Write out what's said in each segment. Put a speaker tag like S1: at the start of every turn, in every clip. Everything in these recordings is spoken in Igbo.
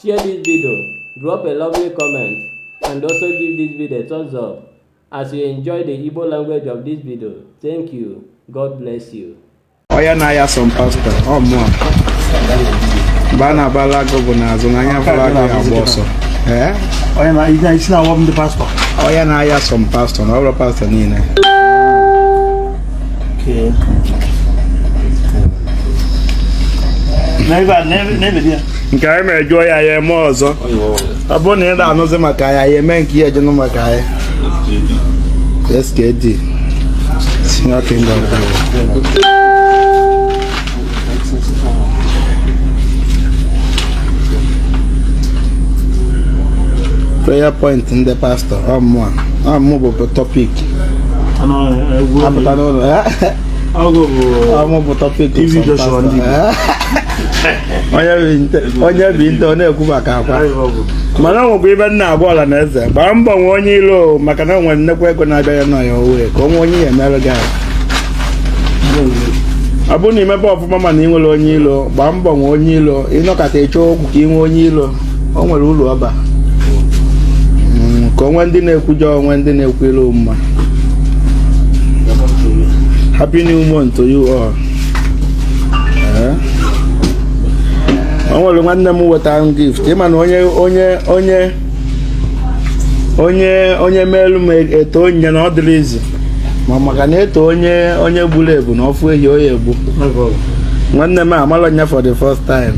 S1: Share this video, drop a lovely comment, and also give this video a thumbs up as you enjoy the Igbo language of this video. Thank you. God bless you. Ọya na-aya
S2: some pastor. Ọ mụwa. Mba a na-abalụ agụ bụ na azụ na onye fụrụ agụ ya-agba ọsọ. Eh? Ọya
S3: na isi na-awa m ndị pastọ. Ọya na-aya
S2: some pastor na ọ bụrọ pastọ niile.
S3: nke anyị mere jụọ ya
S2: ya eme ọzọ ọ bụrụ na ị na-anụzi maka ya ya eme nke ị je-anụ maka ya skd senior kingdom prayer point ndị pastọ ọ mụa ọ mụ bụ tọpik a pụta n'ụlọ ọ mụ bụ tọpik onye bi nte ọ na-ekwu maka akwa mana o nwekwa ife m na-agwa ọla na eze gbaa mbọ nwee onye ilo maka na o nwere nnekwu ego na-abịa ya n'ọya owe ka o nwee onye ya-emerụ gị ahụ ọ bụrụ na i mebe ọfụma mana i nwerọ onye ilo gbaa mbọ nwee onye ilo ị nọkata ị chọọ okwu ka i nwee onye ilo o nwere uru ọ ba Mm, ka o nwee ndị na-ekwujọ o nwee ndị na-ekwulu ị mma happy new month to you all Eh? o nwere nwanne m wetara m gift ị ma na onye onye onye onye onye meelu m etoo onye na ọ dịrọ easy ma maka na e too onye onye gburu ebunu ọ fụ ehi ọ ya-egbu nwanne m amalọ nya for the first time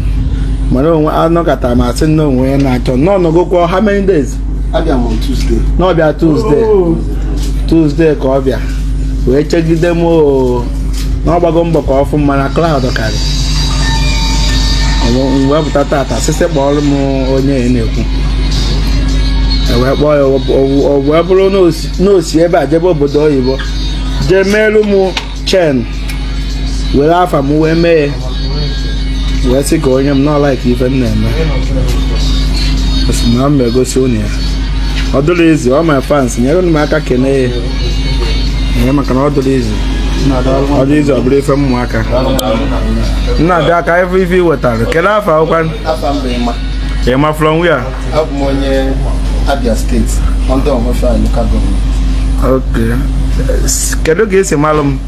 S2: mana o nwe anọkata m a sị na o nwe onye na-achọ m na ọ nọgokwa how many days abịa m
S3: Tuesday na ọ bịa Tuesday
S2: oh. Tuesday ka ọ bịa wee chegide m oo na ọ gbago mbọ ka ọ fụ m mana crowd karị m wee pụta taata sị sị kpọọrọ m onye ị na-ekwu e wee kpọọ ya o wee bụrụ na o si ebe a jebe obodo oyibo jee meelu m chain were afa m wee mee ya wee sị ka o nye m na ọ like ife m na-eme na m egosi unu ya ọ dịrọ easy all my fans nyere m aka kene ya ee maka na ọ dịrọ easy ọ dịrọ easy ọ bụrọ ife ụmụaka nna dị aka ife i wetara kedu afa
S3: akwụkwọ Emma from
S2: where abụ m
S3: onye Abia State under Ohafia local government
S2: kedu ka i si malụ m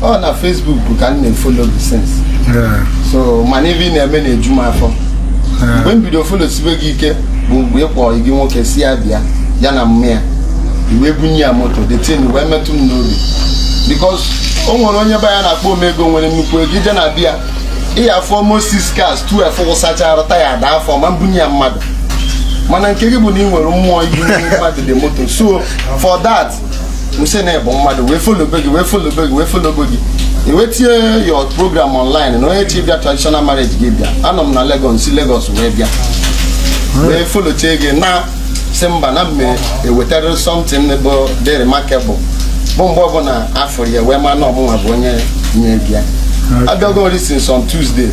S2: ọ na
S3: Facebook ka m na-efollow gị since Yeah. so mana ife ị na-eme na-eju m afọ mgbe m bido followsibe gị ike bụ mgbe ị kpọrọ gị nwoke si Abia ya na mma ya i wee bunye ya moto the thing wee metụ m n'obi because o nwere onye be ya na-akpọ omego nwere nnukwu ego i je na be ya ị ya-afụ almost six cars tu efe wụsachara taya ada afọ ma mbunye ya mmadụ mana nke gị bụ na ị nwere mmụọ ibunye mmadụ the moto so for that m sị na ị bụ mmadụ wee followbe gị wee followbe gị wee followbe gị i wee tinye your program online na onye chọ ịbịa traditional marriage gị bịa anọ m na Lagos si Lagos wee bịa wee followchie gị m sị mba na m me ewetara something bụ dị remarkable bụ mgbe ọbụla a fụrụ ya wee ma na ọ mụnwa bụ onye nye bịa abịago m ri since on Tuesday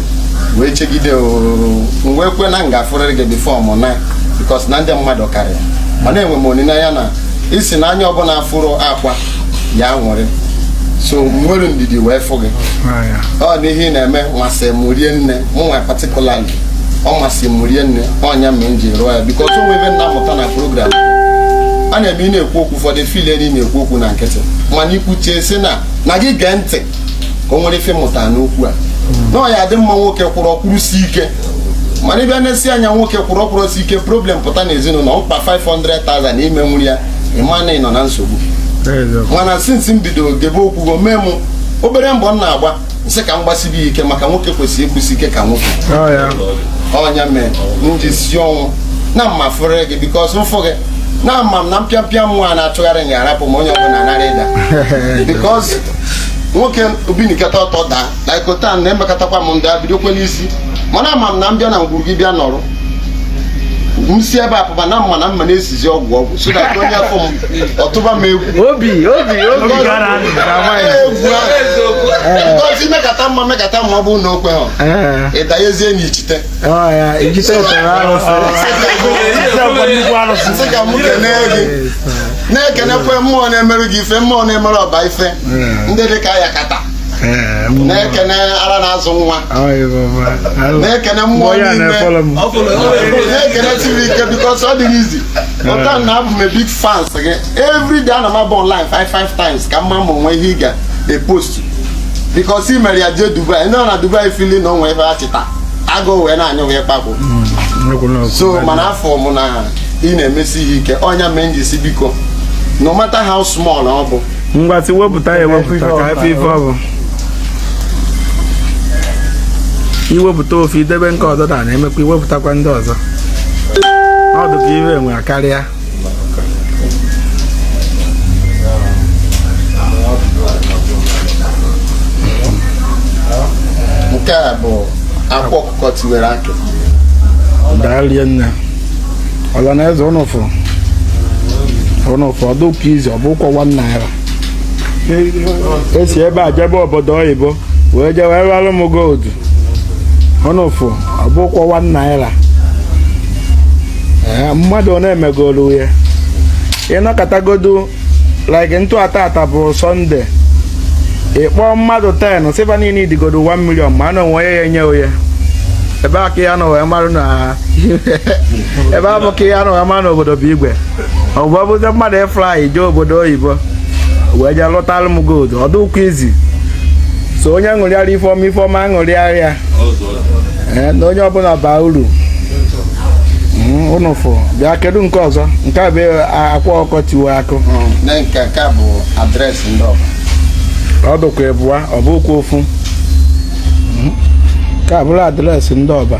S3: wee chegide oo m wee kwe na m ga-afụrịrị gị before mụ naa because na ndị mmadụ karịa mana enwe m olileanya na ị sị na anya ọbụla fụrụ Akwa ya nwere so m nwere ndidi wee fụ gị ah, ọ n'ihe ị na-eme masị m rinne mụ nwa particularly ọ masị m rinne ọ nya mee m ji rụọ ya because o nwee ife m na-amụta na program a na-eme ị na-ekwu okwu ụfọdụ feel na ị na-ekwu okwu na nkịtị mana i kwuchie sị na na gị gee ntị ka o nwere ife mụta n'okwu a hmm. na ọ ya-adị mma nwoke kwụrụ ọ kwụrụsie ike mana ị bịa na-esi anya nwoke kwụrụ ọ kwụrụsie ike problem pụta n'ezinụlọ mkpa 500,000 i menwuro ya ị ma na ị nọ na nsogbu mana since m bido gebe okwu gị o mee m obere mbọ m na-agba m sị ka m gbasibe ike maka nwoke kwesịrị ịkwụsị ike ka nwoke ọ nya oh, mee m ji si ọnwụ na m ma-afụrịrị gị because m fụ gị na ama m na mpịampịa nwa na-achụgharị m ga-arapụ m onye ọbụla narị ịda because nwoke o binikata ọtọ daa like otu ọ na-emekatakwa m m daa bidokwe n'isi mana ama m na m bịa na ngwuru gị bịa nọrọ m si ebe a pụba na m ma na m ma na-esizi ọgwụ ọgwụ so that onye fụ m ọ tụba m egwu obi obi
S2: obi ngozi
S3: mekata mma mekata mma ọ bụrụ na o kwe ha eh. ịdanyezie na ichite m sị ka m kene gị na-ekenekwe mmụọ na-emerụ gị ife mmụọ na-emerụ Ọba ife eh. ndị dị ka ya kata na-ekene ara na-azụ nwa na-ekene mmụọ niile na-ekene tiri ike because ọ dịghị easy ọta na abụ m a big fans gị every day ana m abụ online five five times ka m ma ma o nwe ihe ị ga-epost because ị mere ya jee Dubai ndị na Dubai feel na o nwe ebe a chịta agụ wee na-anyụ wee kpakpụ mm, so mana afụ m na ị na-emesi ihe ike ọ nya mee m ji sị biko no matter how small ọ bụ ngwa si wepụta
S2: ya ewepụta ka a fụ ife ọ bụ iwepụta ofu i debe nke ọzọ da na-emekwa iwepụtakwa ndị ọzọ ọ dị ka ihe enwe karịa nke a bụ akwa ọkụkọ
S3: kọ
S2: tiwara akị daalụ nne ọla na eze ụnụ fụrụ ụnụ fụrụ ọ dụrọkwa easy ọ bụrọkwọ 1 naira e si ebe a jebe obodo oyibo wee jee wee ralụ m gold ụnụ fụrụ ọ bụrọkwọ 1 naira ee mmadụ ọ na-emegolu ya ị nọkatagodu like na taata bụ Sunday ị kpọọ mmadụ 10 sị ba niile idigodo 1 million ma na o nwe onye ya-enye onye ebe a ka a ya-anọ wee marụ na ebe a bụ ka a ya-anọ wee marụ na obodo bụ igwe ọ bụ ọ bụzi mmadụ ịfly jee obodo oyibo wee jee lụtalụ m gold ọ dụrọkwọ easy so onye ṅụrịara ife ọma ife ọma ṅụrịara ya ee na onye ọbụla baa uru Mm, unu fụ bịa kedu nke ọzọ nke a bụ a- akwa ọkụkọ tiwara akụ na nke nke a
S3: bụ address ndị ọba
S2: ọ
S3: dụkwa
S2: ịbụa ọ bụrọkwọ ofu Mm. nke a bụrụ address ndị ọba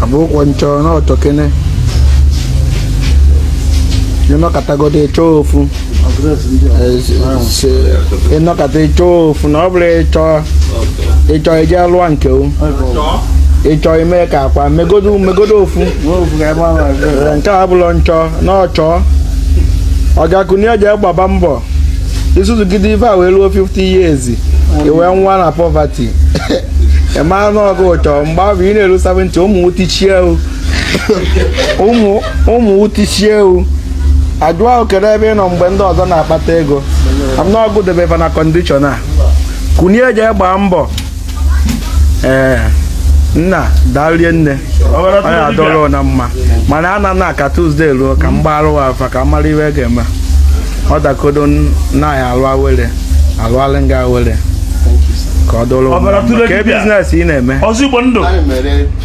S2: a bụrọkwọ nchọ n'ọchọ kene ị nọkatagodo ị chọọ ofu ị nọkata ị chọọ ofu na ọ bụrụ ị chọọ ị chọọ ije lụọ nke o ị chọọ ime ka akwa megodo megodo ofu nke a bụlọ nchọ n'ọchọ ọ ga-akunie jee gbaba mbọ i zuzugide ife a wee ruo 50 years i wee nwụa na poverty ị mara na ọ gụ chọ mgbe ahụ ị na-eru 70 ụmụ tichie wu ụmụ ụmụ tichie wu ajụa wụ kedu ebe ị nọ mgbe ndị ọzọ na-akpata ego a ma na ọ gụ debe va na condition a kunie jee gbaa mbọ ee nna darie nne ọ ya-adụrụ ụnụ mma mana a na na ka Tuesday ruo ka m gbara ụwa afa ka m mara iwe ga-eme ọ dakodo n- na ya-alụ awere a lụalị ngị awere ka ọ dụrụ Ọbara tụrụ ka e dibịa. business ị na-eme ọzọ igbo ndụ Anyị mere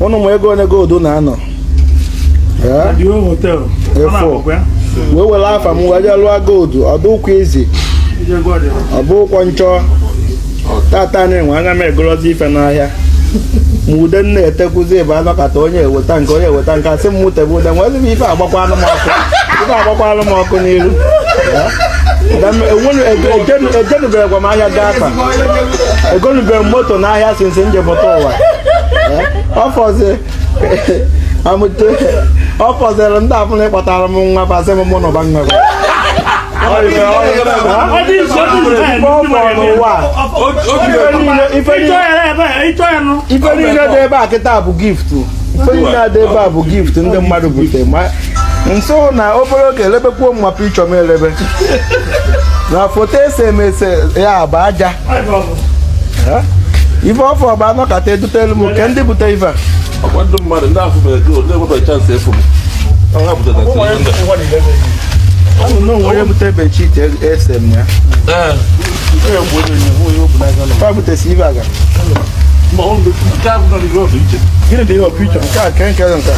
S2: ụnụ ma ego 1 gold na-anọ efo wee were afa m wee lụọ gold ọ dụrọkwọ easy ọ bụrọkwọ nchọ tata anyị nwe anya m egorozi ife n'ahịa ma ude m na-etekwuzi ebe a nọkata onye eweta nke onye eweta nke a sị m tebe ude nwee ebe ife agbakwanụ m ọkụ ife agbakwanụ m ọkụ n'iru ejenubegakwa m ahịa gaa akpa egolubeghị m moto n'ahịa since m ji pụta ụwa ọfọzi amụte ọ fọziri ndị afụ na ịkpọtara m nwa basị m mụ na ụba nwa ife niile dị ebe a kịta bụ gift ife niile dị ebe a bụ gift ndị mmadụ butere nso na obere oge e lebekwuo m na picture m elebe na foto e se m ese ya bụ aja Eh? ife ọ fọ bụ anọkata edutelu m nke ndị bute ife a ọkwa ndị
S4: mmadụ ndị afọ mere gol na-enwebeghị chance efu m ọha butere Ụmụ anyị ndị- ụwa niile na-eyi.
S2: anụ na o nwe onye bute bedsheet e se m ya Gịnị dị ihe ọpụ iche nke a nke nke nke a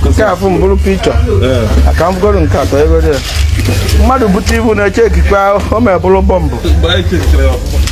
S2: nke a fụ mbụrụ picture aka m gụrụ nke atọ ego dị ya mmadụ bute ibu na-eche ekikpe ahụ o mebụrụ bọmbụ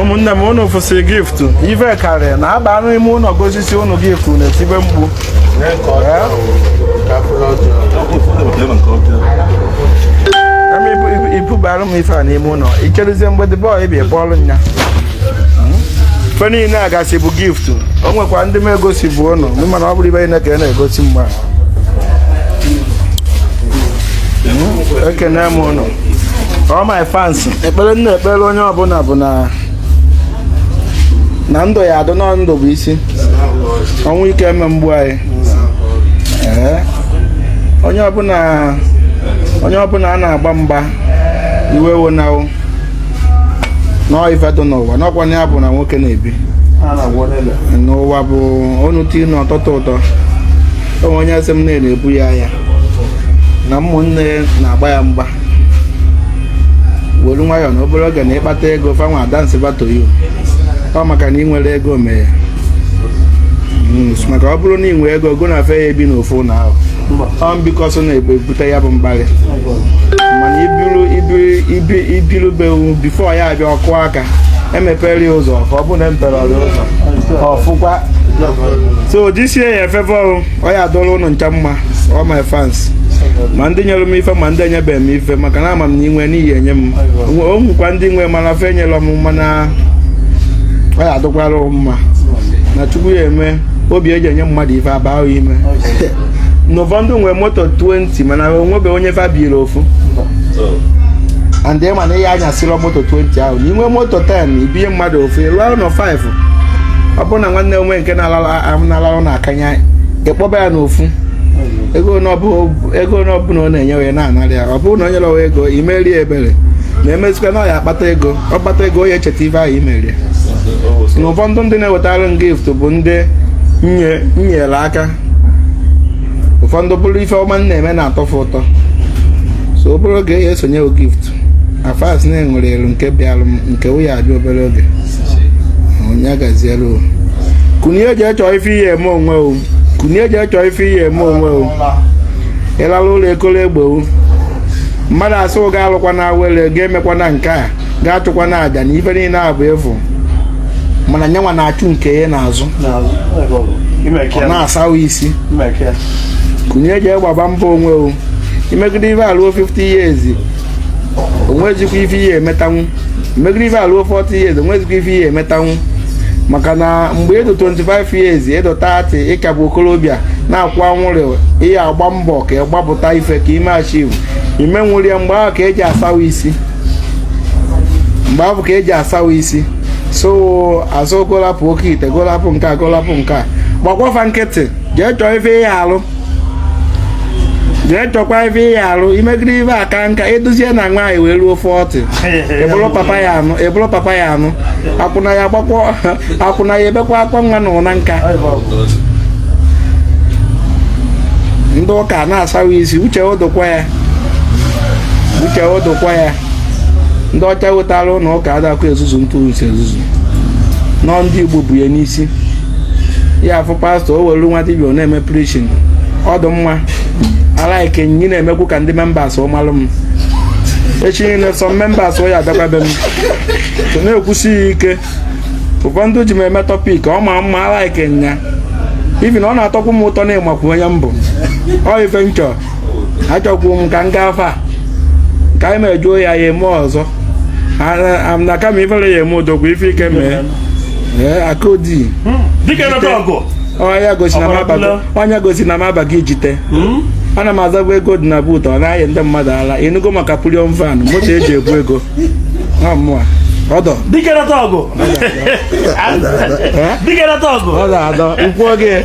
S2: ụmụnne m unu fụsị gift ive karịa na aba anụ ime ụlọ gosisi ụnụ gift na-etibe mgbu i bubara m ife a n'ime ụlọ i cherezie mgbede bọọ ị bịa kpọọlụ nya ife niile a gasị bụ gift o nwekwa ndị m egosibụ ụnụ mana ọ bụrọ ife niile ka ị na-egosi mgbe hmm? ekene m ụnụ all my fans ekpere m na-ekpere onye ọbụla bụ na na ndụ ya adụ na ndụ bụ isi ọnwụ ike eme egbu anyị onye ọbụla a na-agba mgba i wewe nwayọọ na ọ ife dị n'ụwa n'ọkwa ya bụ na nwoke na-ebi n'ụwa bụ onu tii na ọtọtọ ụtọ o nwe onye sị m na-ebu ya ahịa na ụmụnne na-agba ya mgba were nwayọọ na obere oge na ị kpata ego fa nwa a dance back to you ọ maka na ị nwerọ ego mee hmm, maka ọ bụrụ na ị nwee ego gị na fe ya ebi n'ofu na ahụ ọ mbikọ so na-ebute ya bụ mkparị mana i biru i biru be before ya abịa ọ kụọ aka emepere ya ụzọ ka ọ bụ na emeperọ ya ụzọ ọ fụkwa so jisie ya efefe ọrụ ọ ya adịrị ụnụ ncha mma all my fans ma ndị nyere m ife ma ndị enyebeghị m ife maka na ama m na i nwe na ị ya enye m o nwekwa ndị nwe mana fe enyela m mana ọ ya adịkwara mma na chukwu ya eme obi eji enye mmadụ ife aba ahụ ị ma na ụfọdụ nwere moto 20 mana o nwebe onye fa biri ofu and ị ma na ị ya-anyasịrọ moto 20 ahụ na i nwee moto 10 i binye mmadụ ofu ị lụọ ụlọ 5 ọ bụrụ na nwanne o nwe nke na-alalụ n'akanya ị kpọba ya n'ofu ego n'ọbụla ọ na-enye onye na-anara ya ọ bụrụ na onye lọwa ego i meere ya ebere na-emezikwa na ọ ya-akpata ego ọ kpata ego onye echeta ife ahụ i meere ya na ụfọdụ ndị na-ewetara m gift bụ ndị m nyere aka ụfọdụ bụrụ ife ọma m na-eme na-atọ fa ụtọ so obere oge ya esonye gift afas na-enwere elu nke bịalụ nke ụya abịa obere oge onye gaziere o kunie jee chọọ ife ị ya-eme onwe o kunie jee chọọ ife ị ya-eme onwe o ị lala ụla ekwolo egbuo mmadụ a sị ọ ga-alụkwa na awele ga-emekwa na nke a ga-achụkwa na aja na ife niile a bụ efu mana nyanwa na-achụ nke ya n'azụ ọ na-asawa isi kunie jee gbaba mbọ onwe o i megide ife a luo 50 years o nwezikwa ife ị ya-emetanwu i megide ife a luo 40 years o nwezikwa ife ị ya-emetanwu maka na mgbe ị dụ 25 years ị dụ 30 ị ka bụ okorobịa na-akwụ anwụrụ ị ya-agba mbọ ka ị gbapụta ife ka i mee achieve ime nwụrie mgbe ahụ ka eji asawa isi mgbe ahụ ka eji asawa isi so azụ golapụ oke ite golapụ nke a golapụ nke a gbakwafa nkịtị jee chọọ ife ị ya-alụ jee chọkwa ife ị ya-alụ i megide ife a kaa nka ị dụzie na nwaanyị wee ruo 40 ị bụrụ papa ya-anụ ị bụrụ papa ya-anụ akwụna ya gbakwa akwụna ya ebekwa akwa nwa na ụnọ ụka ndị ụka na-asawa isi uche odokwa ya uche odokwa ya ndị ọcha wetara ụlọ ụka adakwa ezuzu ntụrụ nsi ezuzu nọ ndị igbo bu ya n'isi ị ya-afụ pastọ o were nwa dibịa ọ na-eme preaching ọ dụ mma I like nya na-emekwu ka ndị members ọ malụ m echi niile sọ members ọ ya-abịakwa be m so na-ekwusi ya ike ụfọdụ ji m eme topic ọ ma mma I like nya even na ọ na-atọkwu m ụtọ na ị makwu onye m bụ ọ ife m chọrọ achọkwuru m ka m gaa fa ka anyị mejuo ya ya eme ọzọ na kama ifere ya eme odogwu ife ike mee akodi onye gosi na m abago onye gosi na m abago ijite hmm? ana m azabu ego dị na boot ọ na-ayị ndị mmadụ ala ị nụgo maka bullion van moto eji ebu ego mụa ọdọ dike na tọgụ dike na tọgụ ọdọ adọ ụkwụ oge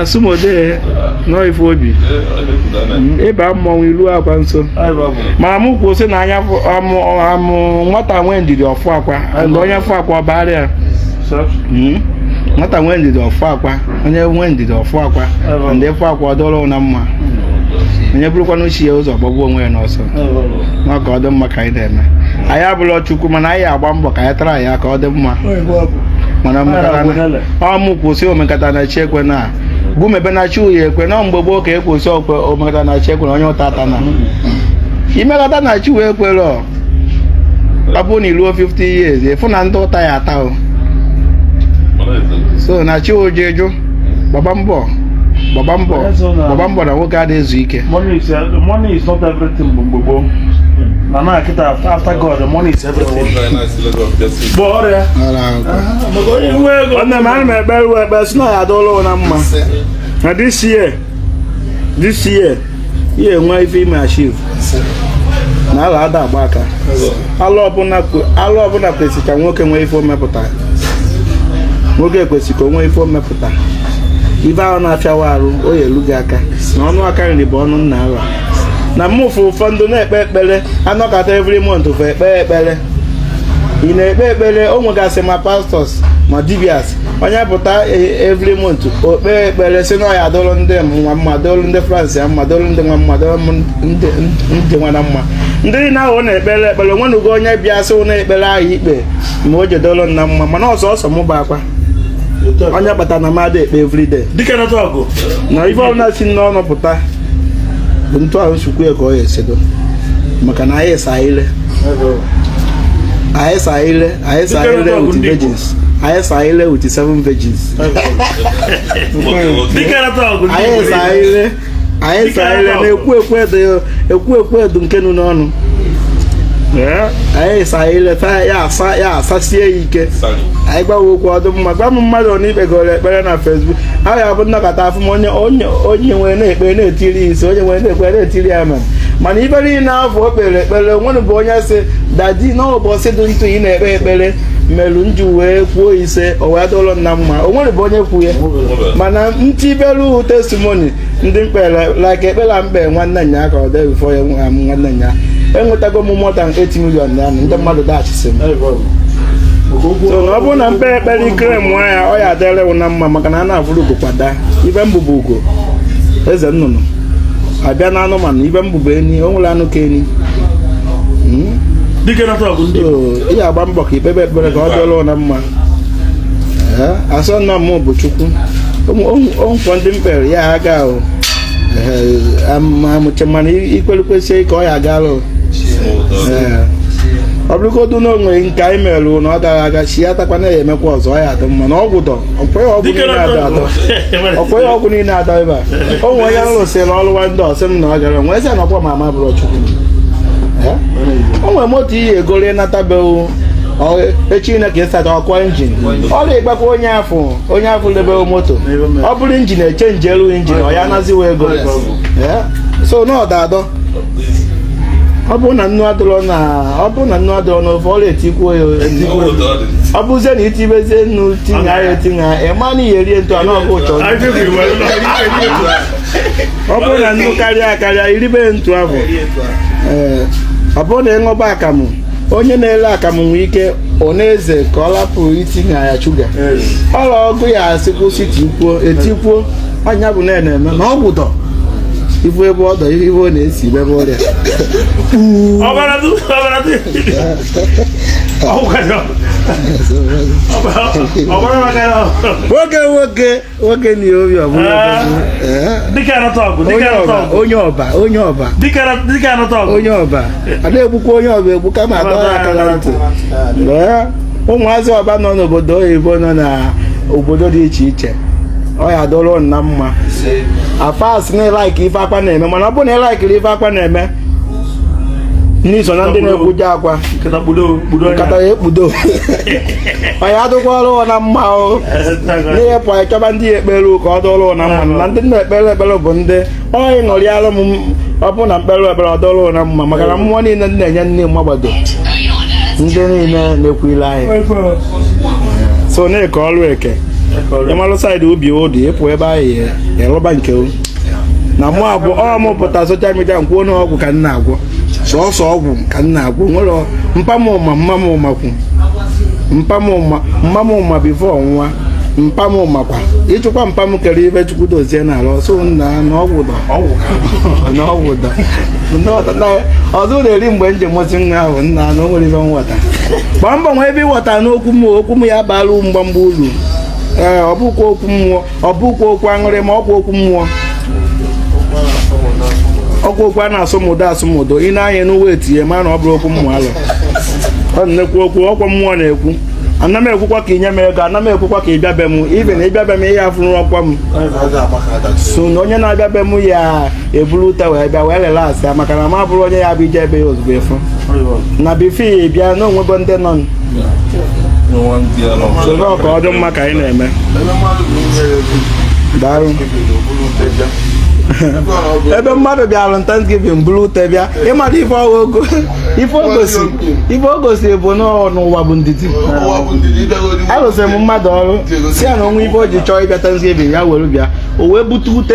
S2: asụmodee nọ ife obi ịba mmọnwụ ilu akwa nso ma mụ kwuo sị na anya amụ nwata nwee ndidi ọ fụ akwa mgbe onye fụ akwa ọ baara ya hmm? nwata nwee ndidi ọ fụ akwa onye nwee ndidi ọ fụ akwa ndị fụ akwa ọ dụrụ na mma onye burukwanụ chi ya ụzọ gbagbuo onwe ya n'ọsọ na ọ ka ọ dị mma ka anyị na-eme anyị abụrọ chukwu mana anyị agba mbọ ka anyị tara ya ka ọ dị mma mana ọ mụ kwu sị omekata na chi ekwe na gụ mebe na chi wụ ya-ekwe na mgbe gboo ka e kwu sị okwe omekata na chi ekwe na onye ụta atana i mekata na chi wụ ekwerọ ọ bụrụ na i ruo 50 years ị fụ na ndị ụta ya-ata o so na chi oje jụ gbaba mbọ gbaba mbọ gbaba mbọ na nwoke adịghị ezu ike Money is, uh, money is
S5: not everything bụ mgbe gboo. Na na kịta after God, money is everything. Bụ ọrịa. Ara ahụ.
S2: nwanne m ana m ekpe iwe ekpe sị na ya adụlụ na mma na this year this year i ya-enwe ife i me achieve na arọ ada agba aka arọ ọbụla kwesị ka nwoke nwee ife o mepụta nwoke kwesị ka o nwee ife o mepụta ife ahụ na-afịa wụ arụ o elu gị aka na ọnụ aka nri bụ ọnụ nna ala na mmụfụ ụfọdụ na-ekpe ekpere a nọkata every month fe ekpe ekpere ị na-ekpe ekpere o nwegasị ma pastors ma dibias onye pụta e, every month o kpee ekpere sị na ya dụlụ ndị nwa mma dụlụ ndị france ya mma dụlụ ndị nwa mma dụlụ ndị nwa na mma ndị niile ahụ na-ekpere ekpere o nwenugo onye bịa sị wụ na ekpere ahụ i kpe ma o jee dụlụ na mma mana ọ sọọsọ mụ bụ akwa onye kpata na mmadụ ekpe everyday dike na ọgụ na ife ọbụla si n'ọnụ pụta bụ etu ahụ m si kwu ya ka ọ ya-esi edo maka na anyị sa ire anyị sa ire anyị sa ire with virgins anyị sa ire with seven virgins anyị sa ire anyị sa ire na ekwu ekwu edo ekwu ekwu edo nke nụ n'ọnụ anyị sa ire taa ya asa ya asasie ya ike anyị gbawa okwu ọ dụ mma gwa m mmadụ ọ na-ekpegoro ekpere na facebook a ga-abụ nnọkọta afụ m onye onye nwere na-ekpe na-etiri ya ise onye nwere na-ekpe na-etiri ya amen mana ibe niile afụ o kpere ekpere o nwerọ bụ onye sị daddy n'ụbọchị dị ntụ ị na-ekpe ekpere melu m ji wee kwuo ise o wee dụrụ nna mma o nwerọ bụ onye kwu ya mana m tibelu testimony ndị m kpere like ekpele m kpe nwanne nya ka ọ dị before ya nwa m nwanne nya enwetago m more than 8 million na ndị mmadụ dashịsị m so na ọ bụrụ na m kpe ekpere i kwere m nwa ya ọ ya-adịrị wụ na mma maka na a na-afụrọ ugo kwa daa ife m bụ bụ ugo eze nnụnụ a bịa na anụmanụ ife m bụ bụ enyi o nwerọ anụ ka enyi dike na tọgụ ndị So, ị ga-agba mbọ ka ikpebe ekpere ka ọ dịrị na mma Ee, asọ nna m bụ chukwu o nwekwọ ndị m kpere ya aga ahụ amụche mana ekpere kwesịrị ka ọ ya gara o. Ee. ọ bụrụgodu na o nwe nke anyị merụrụ na ọ gara aga chi ya takwana ya emekwa ọzọ ọ ya adị mma na ọgwụ dọ ọkwe ya ọgwụ niile adọ adọ na ọkwe ya ọgwụ niile adọ ebe a o nwere onye rụsịrị ọrụ nwa ndị ọ sị m na ọ gara m wee sị na ọkwa ma ama bụrụ chukwu Ee? o nwere moto ị ya egoro ị natabeghị echi na ka ịsata ọkwa injin ọ na-egbakwa onye ahụ onye ahụ lebeghị moto ọ bụrụ injin e chenjie elu injin ọ ya naziwa ego so na ọda adọ ọ bụrụ na nnu adịrọ na ọ bụrụ na nnu adịrọ n'ofe ọ na-etikwu ya ọ bụzie na i tibezie nnu tinye ya etinye ya ị ma na ihe rie ntụ anụ ọkụ ụchọ ọ bụrụ na nnu karịa akarịa i ribe ntu ahụ ee ọ bụrụ na ị ṅụba akamụ onye na-ele akamụ nwee ike ọ na-eze ka ọ lapụ itinye ya shuga ọla ọgụ ya a sị kwụsị tikwuo etikwuo anya bụ na na-eme na ọ gwụdọ ibu ebe ọdọ ihe ibe ọ na-esi ebe ọrịa ọbara du ọbara du ọbara ọbara maka ya nwoke nwoke nwoke na obi ọbụla dịka anata ọgụ dịka anata ọgụ onye Ọba onye Ọba dịka anata ọgụ onye Ọba ada egbukwa onye Ọba egbu kama a dọ ya aka na ntị ụmụazị Ọba nọ n'obodo oyibo nọ na obodo dị iche iche ọ ya dụrụ na mma as far as na ị laik ife Akwa na-eme mana ọ bụ na ị laikiri ife Akwa na-eme na i so na ndị na-ekwuje Akwa nkata ya ekpudo onye adụkwa ọrụ na mma o na-eyepụ anya chọba ndị ya ekpere ka ọ dụrụ na mma na ndị na-ekpere ekpere bụ ndị onye ṅụrịara m ọ bụrụ na m kpere ekpere ọ dụrụ na mma maka na mmụọ niile na-enye nne mmagbado ndị niile na-ekili anyị so na-eke ọrụ eke ị malụ saịdị ubi ụdị ịpụ ebe anyị ịrụba nke na mụ agwọ ọ mụ pụta soshal midia m kwuo na ọgwụ ka m na-agwọ sọsọ ọgwụ ka m na-agwọ nwere mpa m ma mma m makwu mpa m ma mma m ma bifo ọ nwụwa mpa m makwa ịchụkwa mpa m kere ibe chukwu dozie n'ala ọsọ nna na ọgwụ dọ na ọgwụ dọ ọzọ na-eri mgbe m ji mụsị nwa ahụ nna na o nwere ibe nghọta gbaa mbọ nwebe nghọta n'okwu m okwu m ya baala mgbamgba uru ee ọ bụkwa okwu mmụọ ọ bụkwa okwu anụ arụ ma ọ bụ okwu mmụọ ọkwa okwu a na-asụmụdo asụmụdo ị na-anya n'uwe etinye ma na ọ bụrụ okwu mmụọ alụ ọ na-ekwu okwu ọkwa mmụọ na-ekwu ana m ekwukwa ka i nye m ego ana m ekwukwa ka ị bịa be m ibe na ị bịa be m ihe afụrụ ọkwa m sị na onye na-abịa be m ya eburu ute wee bịa wee relaxịa maka na m abụrọ onye ya bụ ije ebe ya ozugbo efu na before ị bịa na o nwego ndị nọ ka ọ dị mma ka anyị na-eme daalụ ebe mmadụ bịara Thanksgiving buru ute bịa ị mara ife o go ife o gosi ife o gosi bụ na ụwa bụ ndidi alụsịrị m mmadụ ọrụ sị ya na o nwee ife o ji chọọ ịbịa Thanksgiving ya were bịa o wee bute ute